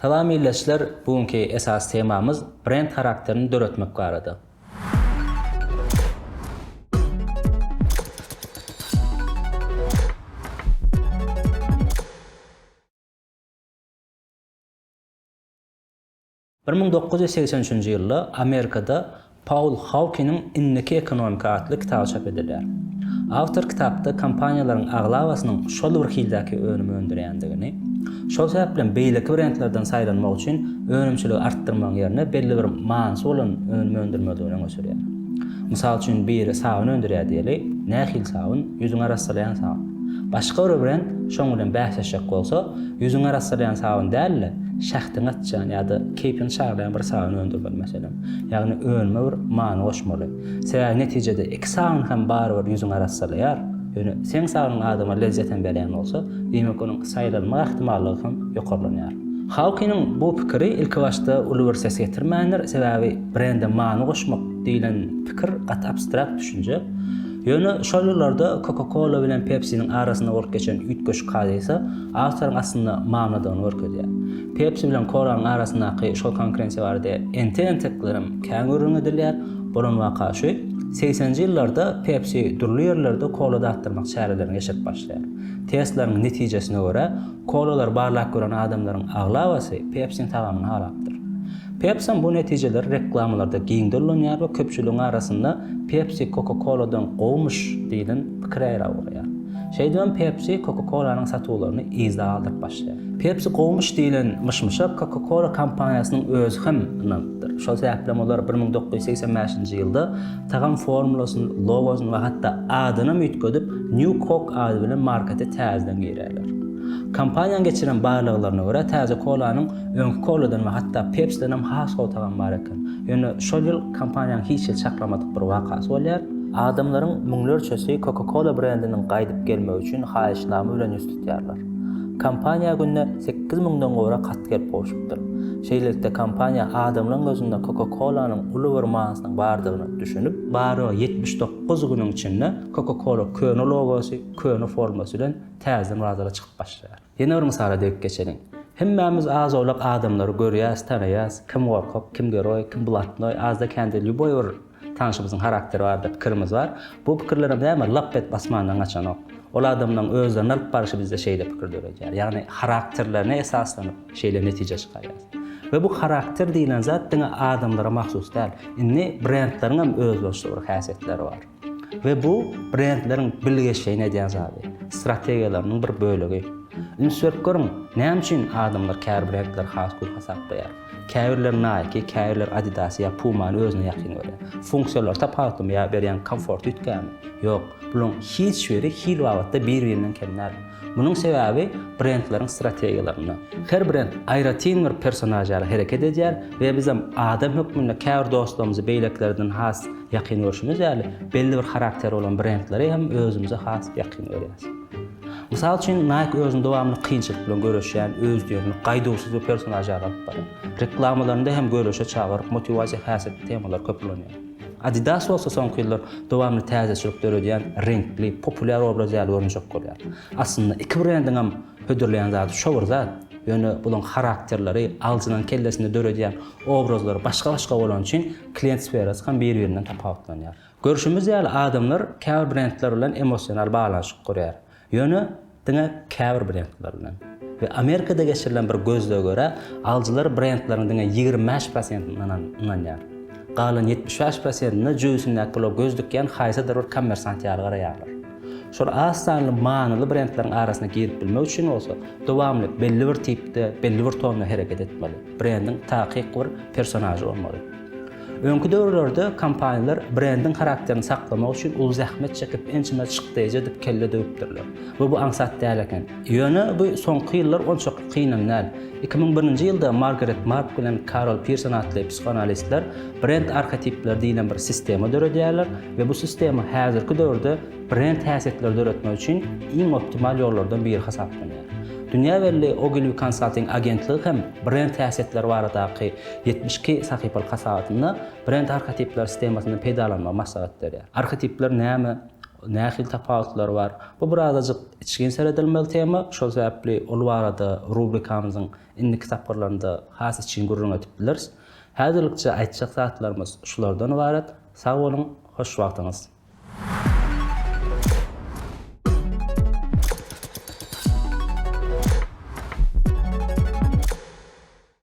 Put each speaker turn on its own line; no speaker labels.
Salam ildeşler bu günki esasy temamyz brend harakterini döretmek barada. Bir müň dokuz ýüz segsen üçünji ýylda Amerikada Paul Haukiniň Indiki ekonomika atly kitaby çap edilýär. Awtor kitapda kompaniýalaryň aglabasynyň şol bir hildäki önüm öndürýändigini, şol sebäplem beýleki brendlerden saýlanmak üçin önümçiligi artdyrmagyň ýerine belli bir manysy bolan önüm öndürmelidigini öňe sürýär. Mysal üçin biri sabyn öndürýär diýeli, nähili sabyn, ýüzüňi arassalaýan sabyn. Başga biri bilen şoň bilen bäsleşjek bolsa, ýüzüňi arassalaýan sabyn däl-de, şähdiňi açýan ýa-da keýpiňi çaglaýan bir sabyn öndürmeli, meselem. Ýagny önüme bir many goşmaly. Sebäbi netijede iki sabyn hem barybir ýüzüňi arassalaýar. Ýöne seň sabynyň adama lezzet hem berýän bolsa, diýmek onuň saýlanmak ähtimallygy hem ýokarlanýar. Hawkiniň bu pikiri ilkibaşda uly bir ses getirmändir, sebäbi brende many goşmak diýlen pikir gaty abstrakt düşünje. Ýöne şol ýyllarda Coca-Cola bilen Pepsi-niň arasynda bolup geçen üýtgeşik hadysa awtoryň aslynda mamladygyny görkezýär. Pepsi bilen Cola-nyň arasyndaky şol konkurensiýa barada entek-enteklerem kän gürrüň edilýär. Bolan waka şu, segseninji ýyllarda Pepsi dürli ýerlerde kola datdyrmak çärelerini geçirip başlaýar. Testleriň netijesine görä, Kololary barlap gören adamlaryň aglabasy Pepsi-niň tagamyny halapdyr. Pepsi-niň bu netijeleri reklamalarda giňden ulanýar we köpçüligiň arasynda Pepsi Coca-Cola-dan gowumyş diýlen pikir ýaýrap ugraýar. Şeýdibem Pepsi Coca-Cola-nyň satuwlaryny yzda galdyryp başlaýar. Pepsi gowumyş diýlen myş-myşa Coca-Cola kompaniýasynyň özi hem ynanypdyr. Şol sebäpli hem olar bir müň dokuz ýüz segsen bäşinji ýylda Tagam formulasyny, logosyny we hatda adynam üýtgedip, New Coke ady bilen markete täzeden girerler. Kompaniýanyň geçiren barlaglaryna görä, täze kolanyň öňki koladan we hatda Pepsidenem has gowy tagamy bar eken. Ýöne şol ýyl kompaniýanyň hiç hili çaklamadyk bir wakasy bolýar. Adamlaryň müňlerçesi Coca-Cola brendiniň gaýdyp gelmegi üçin haýyşnama bilen ýüz tutýarlar. Kompaniýa günde sekiz müňden gowrak hat gelip gowşupdyr. Şeýlelikde kompaniýa adamlaryň gözünde Coca-Cola-nyň uly bir manysynyň bardygyna düşünip, barygy ýetmiş dokuz günüň içinde Coca-Cola köne logosy, köne formasy bilen täzeden bazara çykyp başlaýar. Ýene bir mysala degip geçeliň. Hemmämiz az-owlak adamlary görýäs, tanaýas, kim gorkak, kim geroý, kim blatnoý, azda-kände lýuboý bir Tanşymyzyň harakteri barada pikirimiz bar. Bu pikirlerem näme lap edip asmandan gaçanok. Ol adamlaryň özlerini alyp baryşy bizde şeýle pikir döredýär. Ýagny harakterlerine esaslanyp şeýle netijä çykarýarys. We bu harakter diýlen zat diňe adamlara mahsus däl. Indi brendleriňem özboluşly bir häsiýetleri bar. We bu brendleriň bilgeşleýin edýän zady, strategiýalarynyň bir bölegi. Üns berip görüň, näme üçin adamlar käbir brendleri has gür hasaplaýar? Käbirler Nike, käbirler Adidas ýa Puma-ny özüne ýakyn görýär. Funksiýalary tapawutlymy ýa berýän komforty üýtgärmi? Ýok, bularyň hiç biri hil babatda bir-birinden kem däl. Munuň sebäbi brendleriň strategiýalarynda. Her brend aýratyn bir personaž ýaly hereket edýär we bizem adam hökmünde käbir dostlarymyzy beýlekilerden has ýakyn görşümiz ýaly, belli bir harakteri bolan brendleri hem özümize has ýakyn görýäris. Mysal üçin, Nike özüni dowamly kynçylyk bilen göreşýän, özdiýenli, gaýduwsyz bir personaž ýaly alyp barýar. Reklamalarynda hem göreşe çagyryp, motiwasiýa häsiýetli temalar köp ulanýar. Adidas bolsa soňky ýyllar dowamly täzeçilik döredýän, reňkli, populýar obraz ýaly görünjek bolýar. Aslynda iki brendiňem hödürleýän zady şo bir zat, ýöne bularyň harakterleri, alyjynyň kellesinde döredýän obrazlary başga-başga bolany üçin klient sferasy hem bir-birinden tapawutlanýar. Görşümiz ýaly, adamlar käbir brendler bilen emosional baglanyşyk gurýar. Ýöne diňe käbir brendler bilen. We Amerikada geçirilen bir gözlege görä, alyjylar brendleriň diňe ýigrimi bäş prosentine ynanýar. Galan ýetmiş bäş prosentine jöbisindäki pula göz dikýän haýsydyr bir kommersant ýaly garaýarlar. Şol az sanly manyly brendleriň arasyna girip bilmek üçin bolsa, dowamly belli bir tipde, belli bir tonda hereket etmeli. Brendiň takyk bir personažy bolmaly. Öňki döwürlerde kompaniýalar brendiň harakterini saklamak üçin uly zähmet çekip, ençeme çykdaýjy edip kelle döwüpdirler we bu aňsat däl eken. Ýöne bu soňky ýyllar onçakly kynam däl. Iki müň birinji ýylda Margaret Mark bilen Karol Pirson atly psihoanalistler brend arhetipleri diýlen bir sistema döredýärler we bu sistema häzirki döwürde brend häsiýetleri döretmek üçin iň optimal ýollardan biri hasaplanýar. Dünýä belli Ogilvy Consulting agentligi hem brend häsiýetleri baradaky Ýetmiş iki sahypalyk hasabatynda brend arhetipler sistemasyndan peýdalanmagy maslahat berýär. Arhetipler näme, nähili tapawutlary bar? Bu birazajyk içgin seredilmeli tema, şol sebäpli ol barada rubrikamyzyň indiki tapgyrlarynda has içgin gürrüň edip bileris. Häzirlikçe aýtjak zatlarymyz şulardan ybarat. Sag boluň, hoş wagtyňyz!